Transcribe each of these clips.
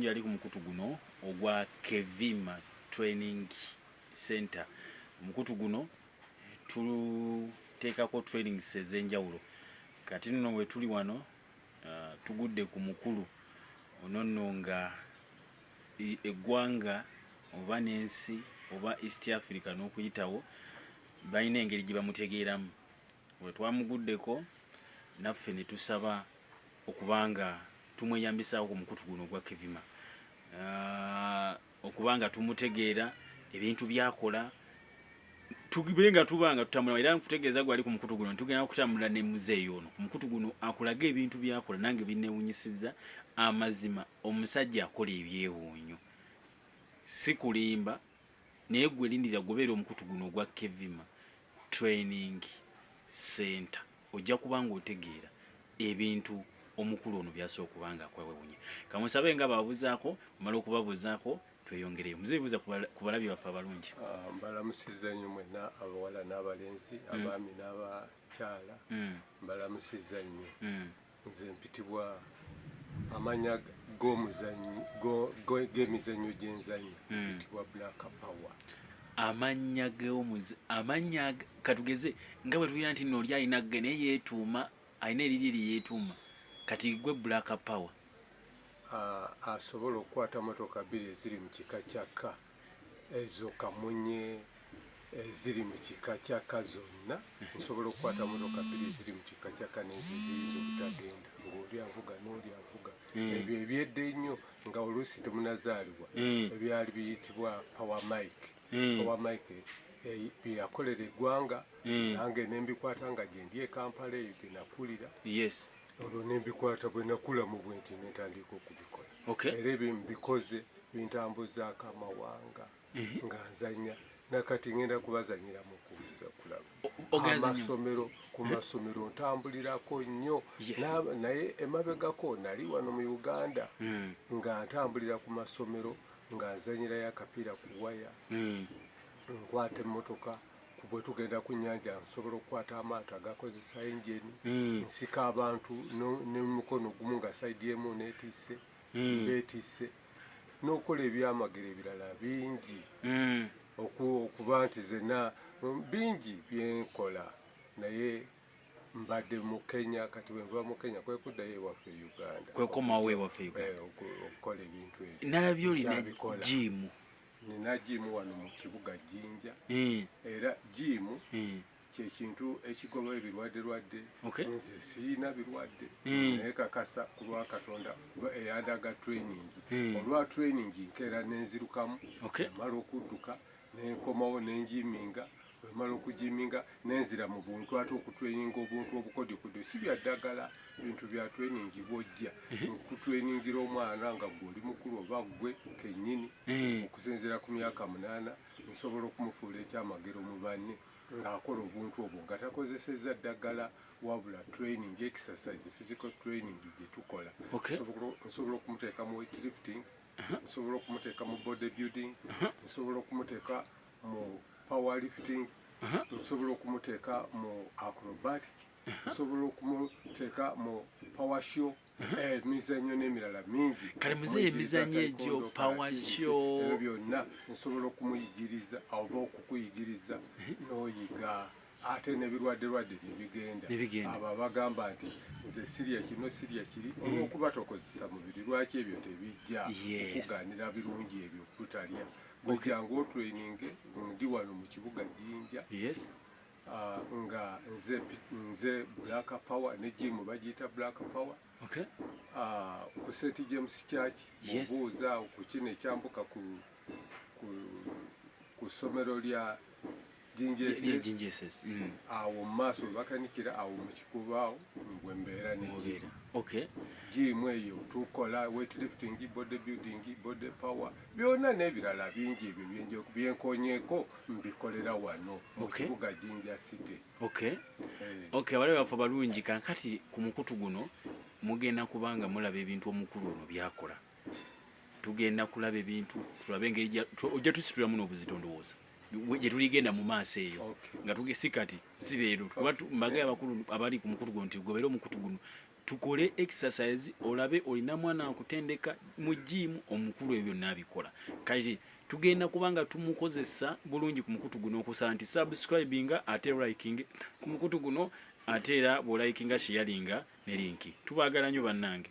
yali ku mukutu guno ogwa kevima training center omukutu guno tuteekako trainings ez'enjawulo kati nno wetuli wano uh, tugudde ku mukulu ono nno nga eggwanga oba n'ensi oba east africa n'okuyitawo balina engeri gye bamutegeeramu wetwamuguddeko naffe ne tusaba okuba nga tumweyambisaako ku mukutu guno ogwa kevima ah, okuba nga tumutegeera ebintu byakola tube nga tuba nga tutambula era nkutegeeza gwali ku mukutu guno tugenda kutambula ne muzeeyi ono ku mukutu guno akulaga ebintu byakola nange binewunyisiza amazima omusajja akola ebyewuunyo si kulimba naye gwe lindira gubeera omukutu guno ogwa kevima training center ojja kuba ng'otegeera ebintu omukulu ono byasa okuba nga akwewewunya kamusabe nga babuzaako omala okubabuzaako tweyongereyo muze bibuza ku balabi baffe abalungi ah, mbalamusiza nnyo mwena abawala n'abalenzi mm. abaami n'abakyala mm. mbalamusiza nnyo mm. Nze mpitibwa amanya g'emizannyo gyenzanyo hmm. mpitibwa black power amanya geomuzi amanya katugeze nga bwe tugira nti nooli alina ge naye yeetuuma alina eriri eri yeetuuma kati gwe black power asobola okukwata motoka bbiri eziri mu kika kyakka ezo kamunye eziri mu kika kya ka zonna nsobola okukwata motoka bbiri eziri mu kika kya ka neziziiza obutagenda ng'oli avuga n'oli avuga hmm. ebyo ebyedde ennyo nga oluusi temunazaalibwa hmm. ebyali biyitibwa power mike hmm. power mike eh, byeyakolera eggwanga nange nembikwata nga gyendi ekampala eyo gyenakulira olwo nembikwata bwenakula mu bwenti nentandiika okubikola era ebyo mbikoze bintambuzaako amawanga mhm. nga nzanya nakati ngenda kubazanyira mukuza kulaba amasomero ku mhm. masomero ntambulirako nnyo naye emabegako nali wano mu uganda mhm. nga ntambulira ku masomero nga nzanyirayo akapiira ku waya nkwata emmotoka bwe tugenda ku nnyanja nsobola okukwata amaato agakozesa engine hmm. nsika abantu nemukono gumu nga saidi emu netisse hmm. betisse n'okukola ebyamagero ebirala bingi hmm. okuba nti zena bingi byenkola naye mbadde mu kenya kati bwenva mu kenya kwekuddayo ewaffe e uganda kwekomawo ewaffe e eh, okukola ebintu ebyo nalabye olina jiimu nina jiimu wano mu kibuga jinja eh. era jiimu eh. kyekintu ekigoba ebirwadde lwadde nze siina birwadde eh. naye kakasa ku lwa katonda kuba eyandaga training olwa training nkeera nenzirukamu amala okudduka nenkomawo nenjiiminga wemala okujiminga nenzira mu buntu ate okutreninga obuntu obukodikodo si bya ddagala bintu bya training bwojja okutreningira omwana nga gwe oli mukulu oba gwe kenyini eh. okusinzira ku myaka munaana nsobola okumufuula ekyamagero mu banne ng'akola obuntu obwo nga takozesezza ddagala wabula training exercise physical training gye tukola nsobola okumuteeka mu weightlifting uh-huh. nsobola okumuteeka mu body building uh-huh. nsobola okumuteeka mu power lifting nsobola okumuteeka mu acrobatic nsobola okumuteeka mu power show eh, emizanyo n'emirala mingi kale muzeeyi emizanyo egyo power show ebyo byonna nsobola okumuyigiriza oba okukuyigiriza n'oyiga ate nebirwadde lwadde nebigenda abo abagamba nti nze sirya kino sirya kiri eh. olwokuba tokozesa mubiri lwaki ebyo tebijja okuganira birungi ebyo kutalya gwejangu otraininge ndi wano mu kibuga jinja yes uh, nga nze nze black power ne jimu bagiyita black power okay. uh, ku st james church yes. obuuza ku kino ekyambuka ku, ku, ku somero lya Jinja SS. Yeah, Jinja SS. Mm. Awo maso bakanikira awo mukikuba awo ngwe mbera nenjira. Okay. Jimu eyo tukola weight lifting, body building, body power. Byona nebirala bingi ebyo byenje byenkonyeko mbikolera wano mu okay. kibuga Jinja City. Okay. Hey. Eh. Okay, wale bafa balungi kankati ku mukutu guno mugenda kubanga mulaba ebintu omukulu ono byakola. tugenda kulaba ebintu tulabe engeri ojja tusitulamu n'obuzito ndowooza gyetuligenda mu maaso eyo nga tugesi kati si leero kuba mbaga abakulu abali ku mukutu guno nti gobeera omukutu guno tukole exercise olabe olina mwana akutendeka mu jiimu omukulu ebyo byonna abikola kati tugenda kubanga tumukozesa bulungi ku mukutu guno okusala nti subscribing ate liking ku mukutu guno ate era bwolayikinga shiyalinga ne linki tubagala nyo bannange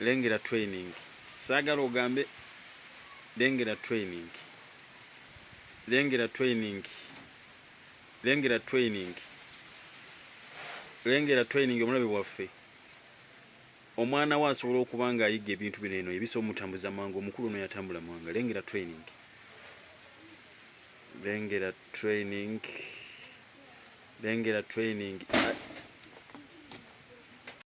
Lengera training saagala ogambe lengera training lengera training lengera training lengera training omulabe waffe omwana we asobola okuba nga ayiga ebintu bino eno ebisa omutambuza mangu omukulu ono yatambula mwanga lengera training lengera training lengera training